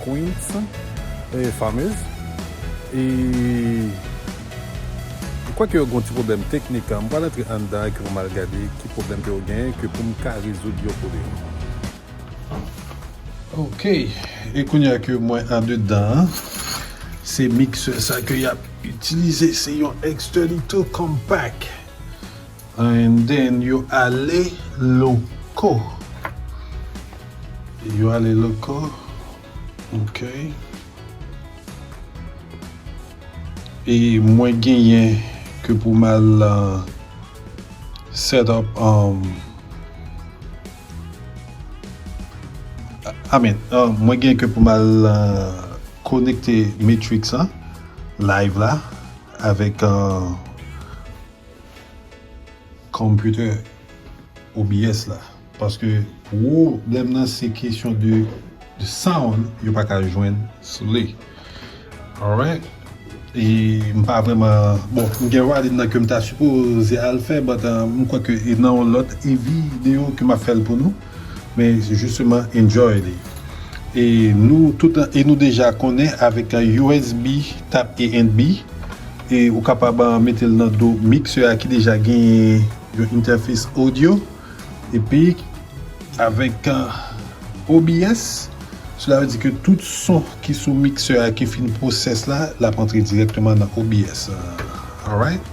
Queens e fameuse e m kwè ke yo gen yon ti pwoblèm teknik m pral antre anndan epi pou m al gade ki pwoblèm ke yo genyen ke pou m ka rezoud yo pou li yo. Ok e kounya ke mwen andedan an se mixeur sa ke yap itilize se yon externito compact. And then yo ale loco. Yo ale loco ok. E mwen genyen ke pou m al set up um I mean mwen genyen ke pou m al konekte matrix an live la avèk Computer OBS la paske pwo blèm nan se kesyon de sound yo paka jwenn sou li alright e m pa vrèman bon m gen writing nan kem ta sipoze al fè but m kwè ke nan yon lòt vi deyo ke map fèl pou nou. Men jisteman enjoy li. E nou tout e nou deja konnen avèk usb tap e and bi e ou kapab metel nan do mixer a ki deja genyen yon interface audio epi avèk obs sela vle di ke tout son ki sou mixer a ki fin process la lap antre direkteman nan obs alright.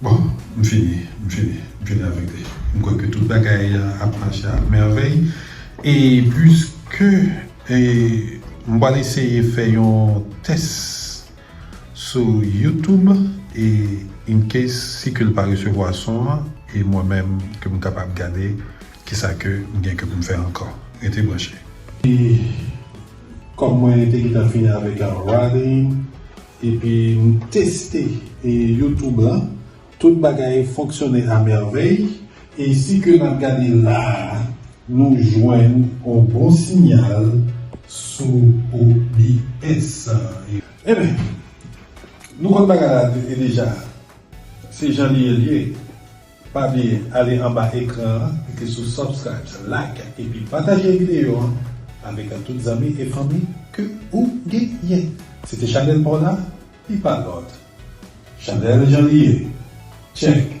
Bon, m fini, m fini, m fini avèk li. M kwè ke tout bagay ap mache a mèvèy. E pwiske e m pral eseye fè yon tès sou YouTube e in case si ke l pa resevwa son an e mwen menm ke m kapab gade kisa ke m gen ke pou m fè ankò. Rete branche. E kòm mwen te gentan fini avèk Ralyn. Epi m teste youtube lan, tout bagay fonksyone a mèvèy, e si ke nap gade la a nou jwenn on bon sinyal sou OBS. Enben, nou konn bagay la deja, se jan li ye li ye. Pa bliye ale anba ekran an klike sou subscribes like epi pataje video an avek tout zanmi e fanmi ke ou genyen se te chanel paw la li pa lot chanel jan li ye check.